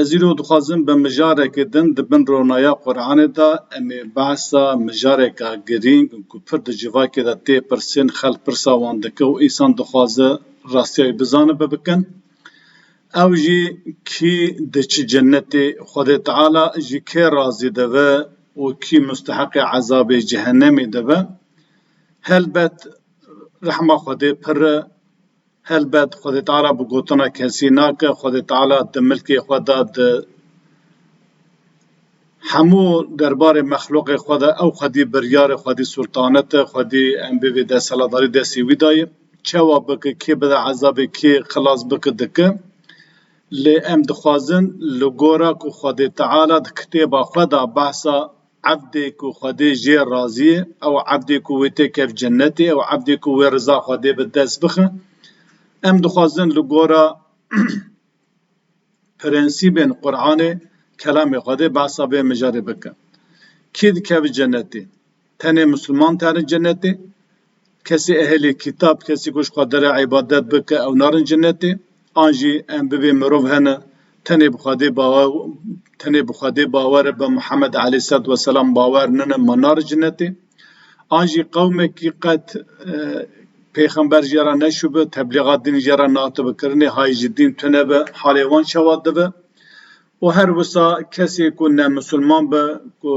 Ez îro dixwazim bi mijareke din di bin ronaya Quranê de em ê behsa mijareke girîng ku pir di civakê de tê pirsên xelk pirsa wan dike û însan dixwaze rastiya wî bizanibe bikin. Ew jî kî di çi cenetê Xwedê Teala ji kê razî dibe û kî musteheqê ezabê cehenemê dibe. Helbet rehma Xwedê pir e. Helbet Xwedê Teala bi gotina kesî nake, Xwedê Teala di milkê xwe de, di hemû derbarê mexluqê xwe de ew xwedî biryar e, xwedî sultanet e, xwedî em bê vê desthilatdarî destê wî de ye. Çawa bike, kê bide ezabê, kê xilas bike dike. Lê em dixwazin li gora ku Xwedê Teala di kitêba xwe de behsa Ebdê ku Xwedê jê razî ye, ew ebdê ku wê tê kevt cenetê, ew ebdê ku wê riza Xwedê bi dest bixe. Em dixwazin li gora prensîbên Quranê, Kelamê Xwedê behsa vê mijarê bikin. Kî dikeve cenetê? Tenê misilman têne cenetê? Kesê ehlê kîtab, kesî ku ji Xwedere îbadet bike ew narin cenetê. An jî em bibê mirov hene tenê bi Xwedê bawer tenê bi Xwedê bawer e, bi Mihemed aleyhîselat weselam bawer nene ma narin cenetê. An jî qewmekî qet pêxember ji ra neşûbe, teblîga dîn ji ra nehatibe kirinê, hayî ji dîn tune be halê wan çawa dibe. Û her wisa kesê ku ne misilman be ku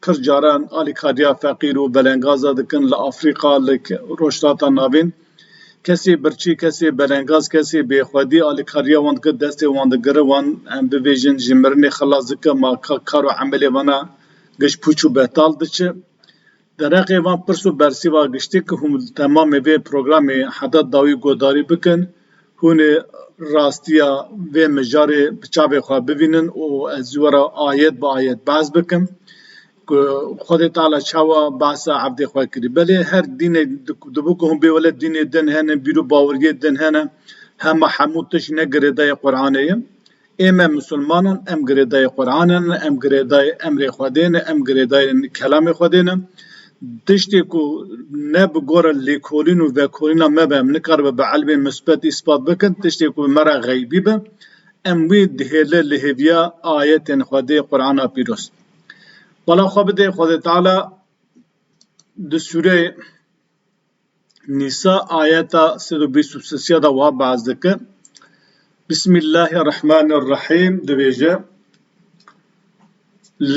pir caran alîkariya feqîr û belengaza dikin li Afrîqa, li Rojhilata Navîn, kesê birçî, kesê belengaz, kesê bêxwedî alîkariya wan dike destê wan digire, wan em bibêjin ji mirinê xilas dike, ma ka kar û emelê wan a giş pûç û betal diçe. Dereqê van pirs û bersîva giştî ku hûn li temamê vê programê heda dawî guhdarî bikin, hûn ê rastiya vê mijarê bi çavê xwe bibînin û ez ji we re ayet bi ayet behs bikim ku Xwedê Teala çawa behsa evdê xwe kirî. Belê her dînê dibû ku hûn bê wele dînê din hene, bîr û baweriyê din hene, hema hemû tişt ne girêdayê Quranê ye. Ê me Musulman in, em girêdayê Quran in, em girêdayê emrê Xwedê ne, em girêdayê kelamê Xwedê ne. Tiştê ku ne bi gora lêkolîn û vekolîna me be, em nikaribe bi ilmê musbet îspat bikin, tiştê ku bi me re xeybî be, em wî dihêle li hêviya ayetên Xwedê, Qurana Pîroz. Bala xwe bide Xwedê Teala di sûreyê. Nîsa ayeta sed û bîst û sisiya de wiha behs dike, Bismîllahî Rehmanî Rehîm dibêje,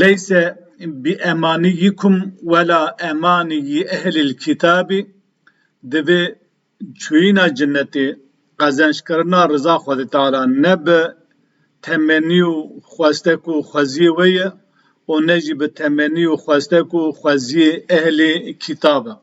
Leyse biemanîyikum wela emanîyî ehlil kîtabî, divê çûyîna cinetê, qezencikirina riza Xwedê Teala nebe temenî û xwestek û xweziyê we ye û ne jî bi temenî û xwestek û xweziyê ehlê kîtab e.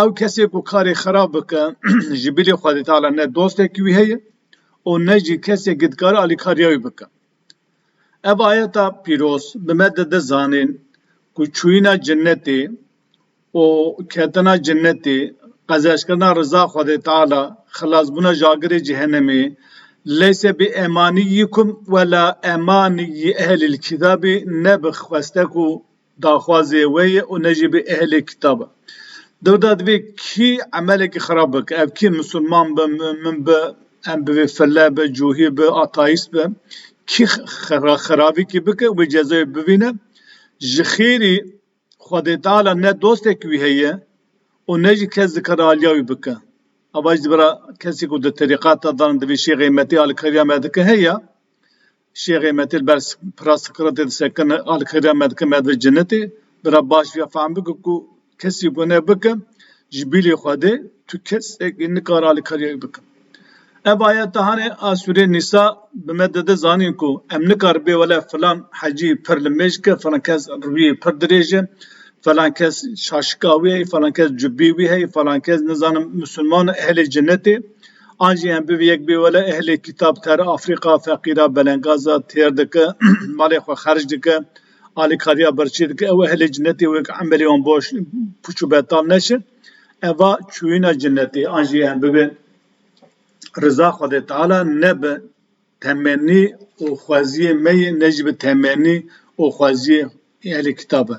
Ew kesê ku karê xerab bike ji bilî Xwedê Teala ne dostekî wî heye û ne jî kesekî dikare alîkariya wî bike. Ev ayeta pîroz bi me dide zanîn ku çûyîna cenetê û ketina cenetê, qezeşkirina riza Xwedê Teala, xilasbûna ji agirê cehenemê, leysa bi emanî yîkum wela emanî yî ehlîl kîtabî ne bi xwestek û Daxwazê wê ye û ne jî bi ehlê kitap e. Dewda divê kî emelekî xirab bike, ev kî misilman bi, min bi, em bivê file bi, cuhî bi, ateîst bi, kî xirabîkî bike wê cezayê bibîne. Ji xêrî Xwedê Teala ne dostek wî heye û ne jî kes dikare aliya wî bike. Ava jî di vera kesî ku di terîqeta de ne divê şêxê metê alikariya me dike heye. Şêxê me tê li ber pira Siqratê disekin, a li xêriya me dikin me divê cenetê. Bira baş vîya fehm bike ku kesî gune bike ji bîlê Xwedê tu kesekî nikare alîkariyek bike. Ev ayete hanê a sûrê Nîsa bi me dide zanîn ku em nikaribê wele filan hecî pir li mêj ke, filan kes rûyê pir dirêj e, filan kes şaşika wî heye, filan kes cubî wî heye, filan kes nizanim musulman e ehlê cenetê. An jî em bivî yek bî wele ehlê kîtab ter Afrîqa feqîra belengaza têr dike, malê xwe xerc dike, alîkariya birçî dike ew ehlê cinetê wê ku emelê wan boş, pûç û betal neşe. Eva çûyîna cinetê an jî em bibe riza Xwedê Teala ne bi temennî û xweziyê me ye ne jî bi temennî û xweziyê ehlê kîtab e.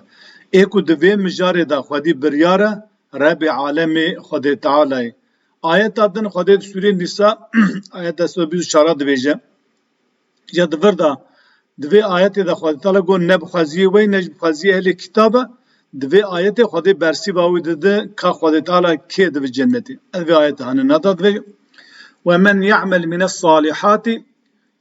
Ê ku di vê mijarê de xwedî biryar e Rebê alemê Xwedê Teala ye. Ayeta din Xwedê di Sûrê Nîsa ayet deh sed û bîst û çar a dibêje, Ya di vir de di vê ayetê de Xwedê Teala got ne bi xweziyê we yî ne jî bi xweziyê ehlê kîtab e. Di vê ayetê Xwedê bersîva wî dide ka Xwedê Teala kê dibe cennetê. Ez vê ayeta hinîna de dibêjim, Wemen ya'mel mine's-salihati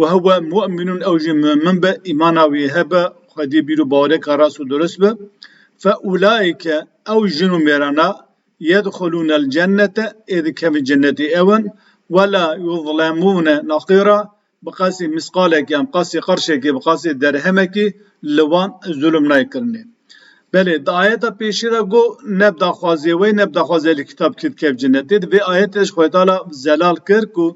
Wa huwa mu'minun ew jî mu'min be, îmana wî hebe, Xwedî bîr û bawereke rast û durist be, fe ûlaîke ew jin û mêrana yedhulûnel cennete ê dikevin cennetê ew in we la yuzlemûne naqîra bi qasî misqalekî yan bi qasî qirşekî bi qasî derhemekî li wan zulm nayê kirinê. Belê di ayeta pêşî de got ne bi daxwaziyê wê ne bi daxwazê Ehlî Kitap kî dikevin cennetê di vê ayetê de jî Xwedî Teala zelal kir ku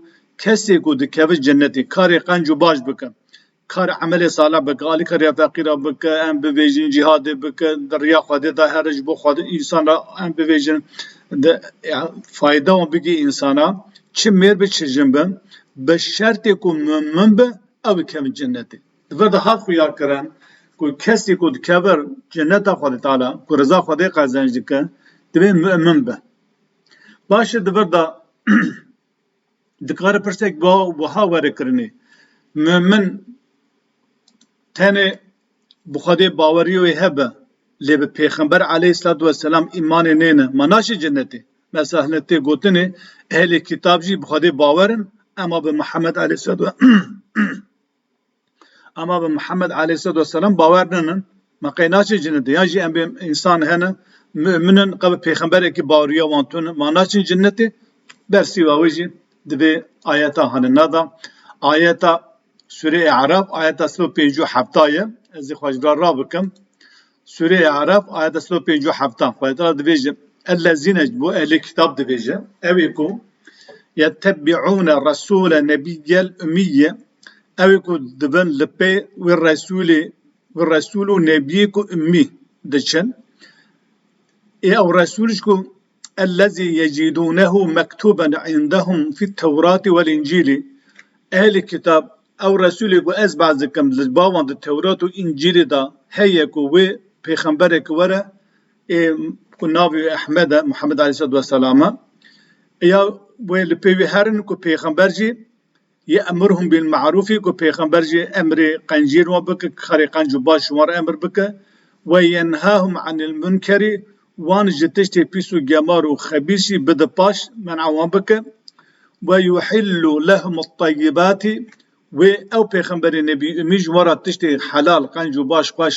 Kesê ku dikeve cenetê, karê qenc û baş bike, kar emelê salih bike, alîka rêya feqîr re bike, em bivêjin, cîhadê bike, di rêya Xwedê de here ji bo Xwedê însan re em bivêjin, di fayda wan bigihî însana, çi mêr be çi jin be, bi şertê ku mumin be, ew dikevin cenetê. Di vir de hat xuyakirin ku kesê ku dikeve ceneta Xwedê Teala, ku riza Xwedê qezenc dike, divê mumin be. Baş e di vir de Dikare pirsek wiha were kirinê, Mumin tenê bi Xwedê bawerî wê hebe, lê bi Pêxember aleyhîslat weselam îmanê nêne, ma naçê cenetê? Mesahlê tê gotinê ehlê kîtab jî bi Xwedê bawer in, ema bi Mihemed aleyhîslat. Ema bi Mihemed aleyhisselatu vesselam bawer ninin. Me qey naçin cinnet ya jî em bê însan hene müminin qe bi pêxemberekî baweriya wan tune ma naçin cinnetê ber sîva wê jî di vê ayeta hanina de ayeta Sûreyê Erab ayeta sed û pêncî û hefta ye ez ê xwe ji vir re rabikim. Sûreya Araf ayeta sed û pênc û heftan Xwedê Teala dibêje, Ellezîne ji bo ehlê kitab dibêje, ew ê ku yettebiûne resûle nebiyyel ummiyye ew ê ku dibin li pê wê resûlê wê resûl û nebiyê ku ummî diçin ê ew resûl jî ku Ellezî yecîdûnehu mektûben îndehum fit-Tewratî wel-Încîlî, Ehlî Kitab, ew Resûlê ku ez behs dikim li bawan di Tewrat û Încîlê de heye ku wê pêxemberek were ê ku navê wê Ehmed e, Muhammed aleyhîsselatu wesselam e, ya wê li pê wî herin ku pêxember jî, Yê emrhum bil me'rûfî ku pêxember jî emrê qencîn wan bike ku karê qenc û baş wan re emr bike, Ve yenhahum enil munkerî wan ji tiştê pîs û gemar û xebîs jî bide paş, men'a wan bike, Ve yuhillu lehumut tayyibatî wê ew pêxemberê nebî umî ji wan re tiştê helal, qenc û baş xweş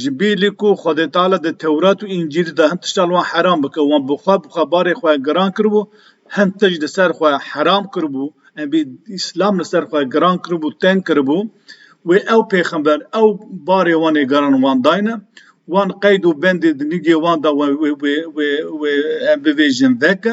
Ji bî li ku Xwedê Teala di Tewrat û Încîlê de hin tişta li wan heram bike, wan bi xwe bi xwe barê xwe giran kiribû, hin tişt li ser xwe heram kiribû, em bî Îslam li ser xwe giran kiribû, teng kiribû, wê ew pêxember ew barê wan ê giran wan dayne, wan qeyd û bendê di nigê wan de wan wê wê wê wê em bivêjin veke.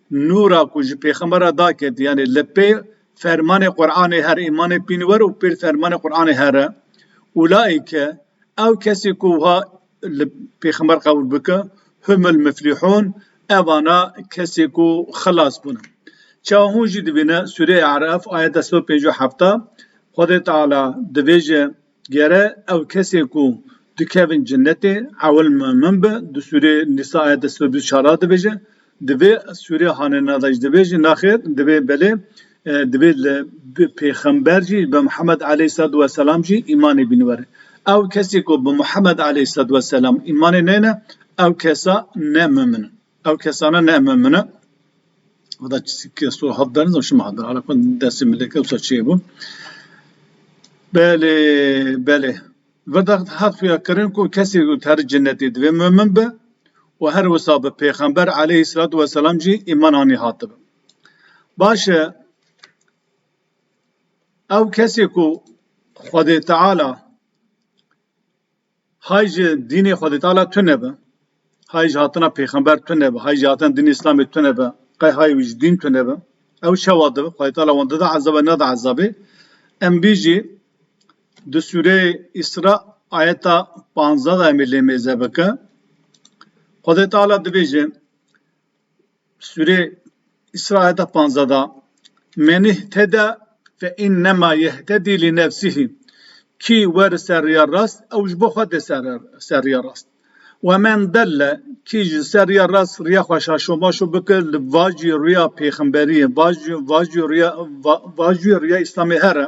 Nûra ku ji pêxember re da ket, yanî li pê fermanê Quranê her îmanê pîn wer û pêl fermanê Quranê her e. Ulaîke, ew kesî ku wiha li pêxember qebûl bike, humul muflîhûn, evana kesê ku xilas bûne. Çawa hûn jî dibîne, Sûreyê Araf, ayet deh sed û pêncî û hefta, Xwedê Teala dibêje. Gere ew kesê ku dikevin cenetê ewil min bi, di sûrê Nîsa ayete sed û bîst û çar a dibêje, divê sûrê Hanena de jî de bêje naxêr, divê belê, divê li pêxember jî bi Mihemed aleyh sed we selam jî îmanê bîne were. Ew kesê ku bi Mihemed aleyh sed we selam îmanê neyne ew kesa ne mimin in. Ew kesane ne me min e. Veda keso hat derin zam şima hat derin. Hala kon destê milê ke wisa çê bûn. Belê, belê. Veda hat xuya kirin ku kesê ku teri cennetê divê mumin be û her wisa bi pêxember aleyhî selatu weselam jî îman anî hatibe. Baş e ew kesê ku Xwedê Teala Hay ji dînê Xwedêtala tune be, hay ji hatina pêxember tune be, hay ji hatina dînê Îslamê tune be, qey hay wî ji dîn tune be, ew çawa dibe? Xwedêtala wan dida ezabe, neda ezabê? Em bîjî di sûreyê Îsra ayeta panzdeh de em ê lê mêze bike. Xwedêtala dibêje. Sûrê Îsra ayeta panzdeh de Men ihteda fe înnema yehtedî li nefsihî, kî wer li ser riya rast ew ji bo xwe tê ser riya rast. We men delle, kî ji ser riya rast riya xwe şaşomaşo bike li vaciyê riya pêxemberiyê, vaciyê riya Îslamê here.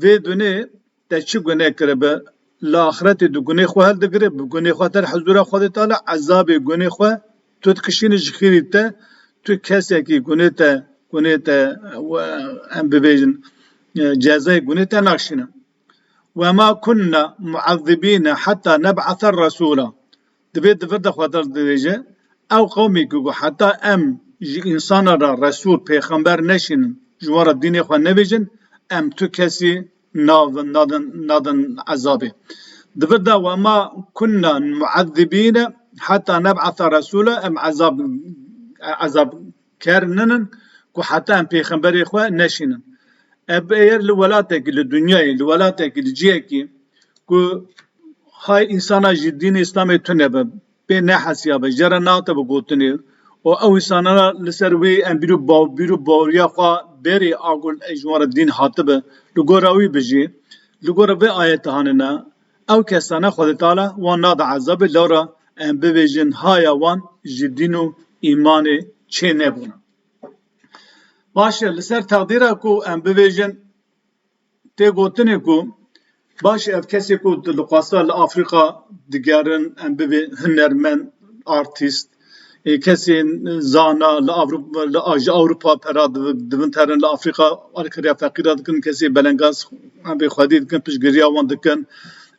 Vê gunê te çi gune kiribe? Li axretê di gunê xwe hildigire, bi gunê xwe te li hizûra Xwedê tala ezabê gunê xwe tu dikişîne ji xêrî te, tu kesekî gunê te gunê te em bibêjin cezayê gunê te nakişîne. Wema kunna mu'ezzibîne heta neb'ase resûla. Divê di vir de xwe derdirêje, Ew qewmê ku got heta em ji însanan re resûl, pêxember, neşînin, ji wan re dînê xwe nebêjin, em tu kesî nadin ezabê. Di vir de Ve ma kunna muezzibîne heta neb'asa resûla, em ezab Ker nin in ku heta em pêxemberê xwe neşînin. Ev eger li welatekî, li dunyayê, li welatekî, li cihekî ku hay însana ji dînê îslamê tune be, pê nehesiya be, jere nehatib bi gotinê û ew însanana li ser wê em bîr û bîr û baweriya xwe berê a ku ji wan re dîn hatibe, li gora wî bijî, li gora vê ayetehane ne. Ew kesane Xwedetala wan nade ezabê lewra em bibêjin haya wan ji dîn û îmanê çê nebûn. Baş e li ser teqdîra ku em bibêjin tê gotinê ku baş e ev kesê ku tu li xwesta li Afrika digerin em bibê hunermend, artîst, Kesên zana li ji Ewropa pera divinterin, li Afrîka alîkariya feqîran dikin, kesên belengaz emrê Xwedê dikin, piştgiriya wan dikin.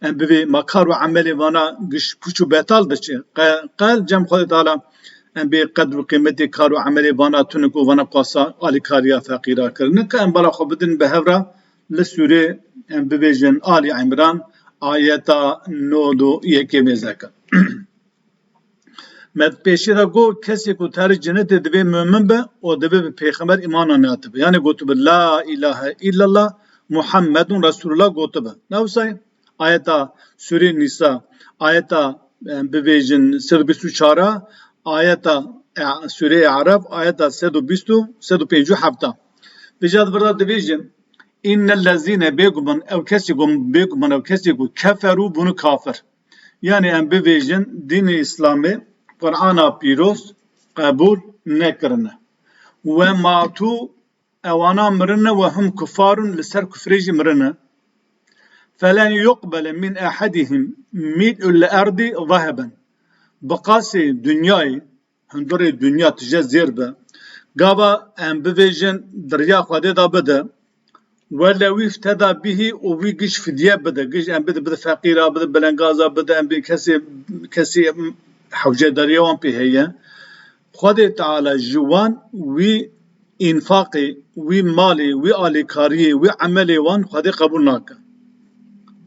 Em bi vê ma kar û emelê vana giş pûç û betal diçe. Qe qe li cem Xwedê tala em bê qedr û qîmetê kar û emelê vana tunik û vana qasa alîkariya feqîran kirin. Nika em bala xwe bidin bi hevra li sûrê em bibêjin Alî Îmran ayeta nod û yekê mêzeke. Me di pêşî de got, kesê ku terê cenetê divê mumin be û divê bi pêxember îmana neatibe. Yanê gotibe La îlahe îllallah Muhammedun Resûlullah gotibe. Ne wisa ye? Ayeta Sûreyê Nîsa, ayeta bibêjin sed û bîst û çar a, ayeta Sûreyê Eraf, ayeta sed û bîst û sed û pêncî û heft a. Îja di vir de dibêje Înnellezîne bêguman ew kesê ku bêguman ew kesê ku keferû bûne kafir. Yanî em bibêjin dînê îslamê Qur'ana pîroz qebûl nekirine. We ma tu ewana mirine we hum kufar in li ser kufrê jî mirine. Felen yuqbele mîn ehedihim mîl'u l'erdî zeheben. Bi qasê dinyayê Hundirê dinya tije zêr be. Gava em bivêjin diriya Xwedê da bide. Wele wî teda bihî û wî giş fidye bide. Giş em bide bide feqîra, bide belengaza, bide em bîn kesê kesî hewcedariya wan pê heye. Xwedê Teala ji wan wî înfaqê, wî malê, wî alîkariyê, wî emelê wan Xwedê qebûl nake.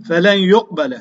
Felen yuqbele.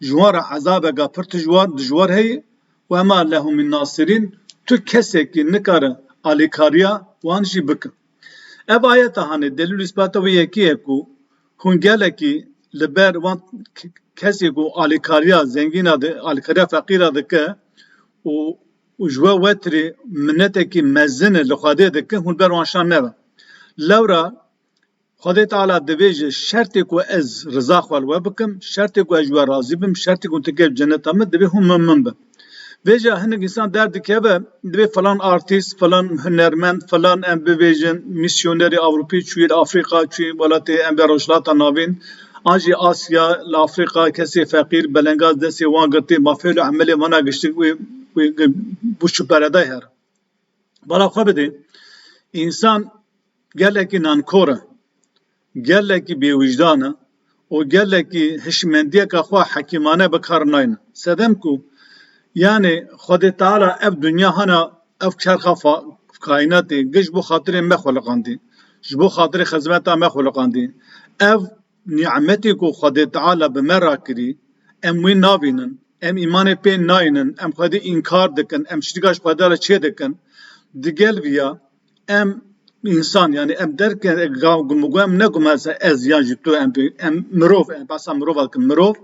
Ji wan re ezabeke pir tijwar, dijwar heye. We ma lehu min nasirîn, tu kesekî nikare alîkariya wan jî bike. Ev ayete hanê delîl û îspata wê yekî ye ku hûn gelekî li ber wan kesê ku alîkariya zengîn a, alîkariya feqîr a dike û ji we wetirê minetekî mezin e li Xwedê dike, hûn li ber wan şan nebe. Lewra Xwedê Teala dibêje, Şertê ku ez riza xwe li we bikim, şertê ku ez ji we razî bim, şertê ku tu kevî ceneta min, divê hûn min min bin. Vê jîya hinek însan derdikeve, divê filan artîst, filan hunermend, filan em bibêjin mîsyonerê Ewropî çûye li Afrîka, çûye welatê em bê Rojhilata Navîn an jî Asya, li Afrîka kesê feqîr, belengaz destê wan girtî, mafê li emelê wana giştik wê wê bû şipereday here. Bala xwe bidê, însan. Gelekî nankor e, gelekî bêwîjdan e û gelekî hişmendiyeke xwe hekîmane bi kar nayne. Sedem ku yanê Xwedê Teala ev dinya hana ev çerxa kaînatê giş bo xatirê me xweliqandî, ji bo xatirê xizmeta me xweliqandî. Ev nîmetê ku Xwedê Teala bi me re kirî, em wê nabînin, em îmanê pê nayînin, em Xwedê înkar dikin, em şirîka ji Xwedê re çêdikin. Digel vî ya Em însan yanî em derke gumûgû em negume se ez yan jî tu em bê em mirov em behsa mirov dikim mirov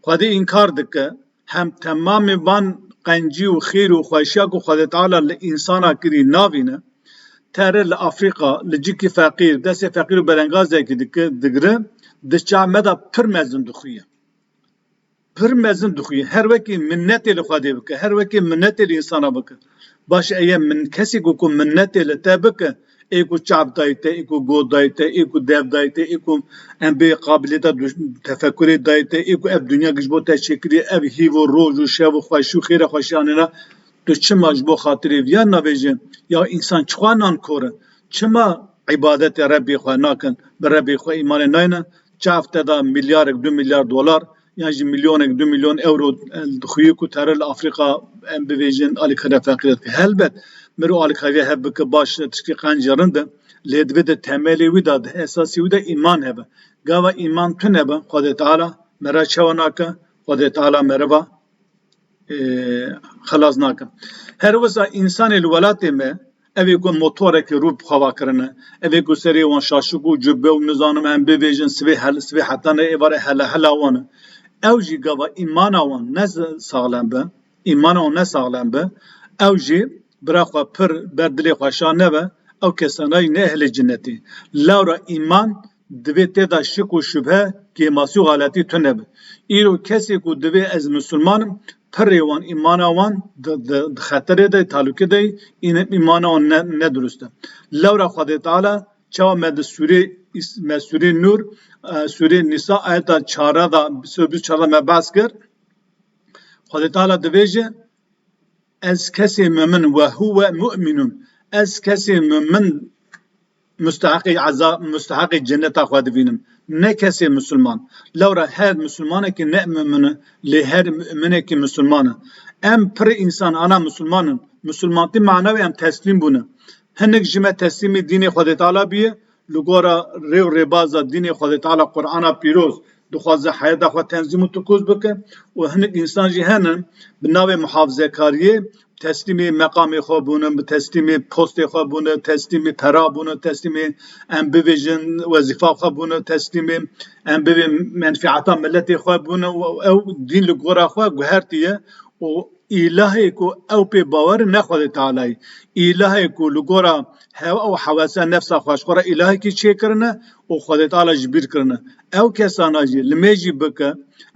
xwedî înkar dike hem temamê van qencî û xêr û xweşiya ku xwedê teala li însana kirî navîne tere li Afrîka li cikî feqîr destê feqîr û belengazekî dike digre di çav me de pir mezin dixuye. Pir mezin dixwî her wekî minnetê li Xwedê bike, her wekî minnetê li însanan bike. Baş e yê kesî ku minnetê li te bike, ê ku çav dayî te, ê ku goh dayî te, ê ku dev dayî te, ê ku em bê qabiliyeta tefekurê dayî te, ê ku ev dinya ji bo te çêkirî, ev hîv û roj û şev û xweşî û xêra xweşî anî na, tu çima ji bo xatirê viyan navêjin? Ya însan çixwe nankor in? Çima îbadetê Rebbê xwe nakin, bi Rebbê xwe îmanê nayêne? Çav te da milyarek du milyar dolar yan jî milyonek du milyon ewro dixuye ku teror li Afrîka em bivêjin alîkariya feqîrê dike. Helbet mirov alîkariya hev bike baş e tiştê qencî rind e lê divê di temelê wî de di esasê wî de îman hebe. Gava îman tune be Xwedê Teala me re çawa nake? Xwedê Teala meriva xelas nakin. Her wisa însanê li welatê me evê ku motorekê rû bi xwe va kirine, evê ku serê wan şaşik û cûbe û nizanim em bibêjin sibê hel sibê heta ne êvarê hela hela wan e. Ew jî gava îmana wan ne saxlem be, îmana wan ne saxlem be ew jî bira xwe pir ber dilê xwe şa nebe ew kesana jî ne ehlê cinetê. Lewra îman. Divê te de şik û şubhe, kêmasî û xeletî tune be. Îro kesê ku divê ez misilman im, pirrê wan, îmana wan di xeterê de ye, talûkê de ye, îmana wan ne dirust e. Lewra Xwedê Teala çawa me di sûrê me sûrê Nûr, sûrê Nîsa ayeta çardeh de bîst û çar de me behs kir. Xwedê Teala dibêje, Ez kesê mumin, wehuwe mu'minûn, ez kesê mumin, Musteheqê eza musteheqê ceneta xwe dibînim. Ne kesê misilman. Lewra her misilmanekî ne mumin e lê her muminekî misilman e. Em pirr însan ana misilman in. Misilmantî mana wê em teslîm bûn e. Hinik ji me teslîmî dînê Xwedê Teala bûye li gora rê û rêbaza dînê Xwedê Teala Qurana Pîroz dixwaze heyata xwe tenzîm û tikûz bike û hinik însan jî hene bi navê muhafizekariyê Teslîmê meqamê xwe bûne, teslîmê postê xwe bûne, teslîmê pera bûne, teslîmê em bivêjin wezîfa xwe bûne, teslîmê em bibên menfîata miletê xwe bûne û ew dîn li gora xwe guhertiye û îlahê ku ew pê bawer e ne Xwedê Tealayî. Îlahê ku li gora hewa û hewesa nefsa xwe ji xwe re îlahekî çêkirine û Xwedê Teala ji bîr kirine. Ew kesana jî li me jî bike,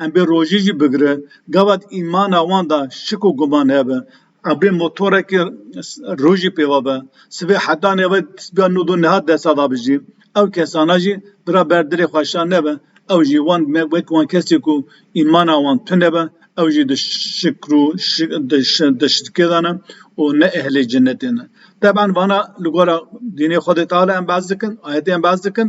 em bê rojî jî bigire, gava di îmana wan de şik û guman hebe, ebrê motorekê rojî pêva be, sibê heta nêve tisbiya nû do niha desta da bijî, ew kesana jî bira ber dirê xweşan nebe, ew jî wan me wek wan kesê ku îmana wan tune be, Ew jî di şikr û di şirkê de ne û ne ehlê cenetê ne. Teb'an vana li gora dînê Xwedê Teala em behs dikin, ayetê em behs dikin.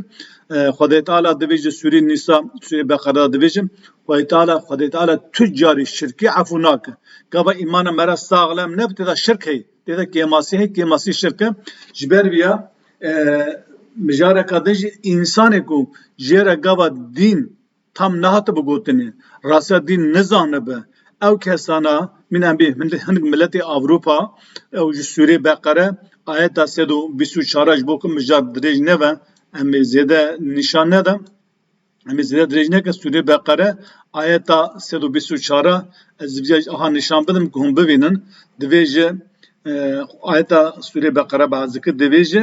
Xwedê Teala divê ji Sûrê Nîsa, Sûrê Beqere de divê jin. Xwedê Teala, Xwedê Teala tu carî şirkî efû nake. Gava îmana me re saxlem ne bi tê de şirk heye. Tê de kêmasî heye, kêmasî şirk e. Ji ber vî ya mijareka din jî însanê ku jê re gava dîn Tam nehatibe gotin e, rase dîn nizanibe. Ew kesana mîna bê hinek miletê Ewropa ew ji sûrê beqere ayeta sed û bîst û çar a ji bo ku mijar dirêj nebe em ê zêde nîşan neda em ê zêde dirêj neke sûrê beqere ayeta sed û bîst û çar a ez ji vîya aha nîşan bidim ku hûn bibînin divê ji ayeta sûrê beqere behs dike divê ji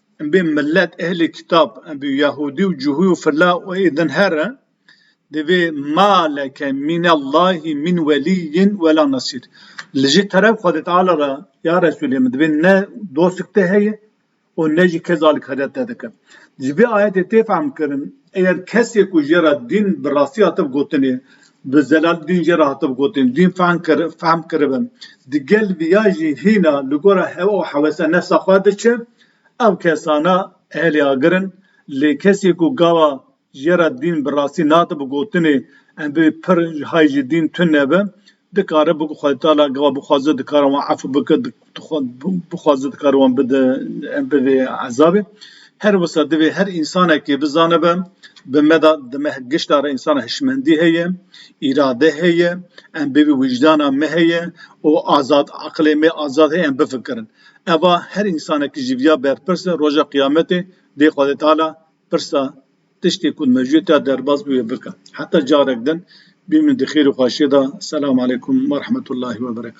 Em bê milet ehlê kitab, em bê yahûdî û cihû û fila û ê din her in, divê ma leke mînellahî mîn welîyyin wela nesîr, li jê teref Xwedê Teala re ya Resûlê min divê ne dostek te heye û ne jî kes alî kadet te dike. Ji vê ayetê tê fehmkirin eger kesê ku jê re dîn bi rastî hatibe gotinê, Bi zelal dîn jî re hatib gotin, dîn fehm kiribin. Di gel viya jî hîna li gora hewa û hewesa nefsa xwe diçe. Ew kesana ehlê agir in. Lê kesê ku gawa jê re dîn bi rastî nade bi gotinê em bê pir hay ji dîn tune be, dikare biku xweditala gawa bixwaze dikare wan efû bike, bixwaze dikare wan bide bi vê ezabê. Her wisa divê her însanekê bizanibe bi me de di me gişta re însan hişmendî heye, îrade heye, em bi vî wîcdana me heye û azad eqilê me azad heye em bifikirin. Eva her însanekî ji vîya berpirs e roja qiyametê dê Xwedê Teala pirsa tiştê ku di mejuyê de ya derbas bûye bike. Heta carek din bînin di xêr û xweşiyê de. Selam aleykum werehmetullahî weberekatû.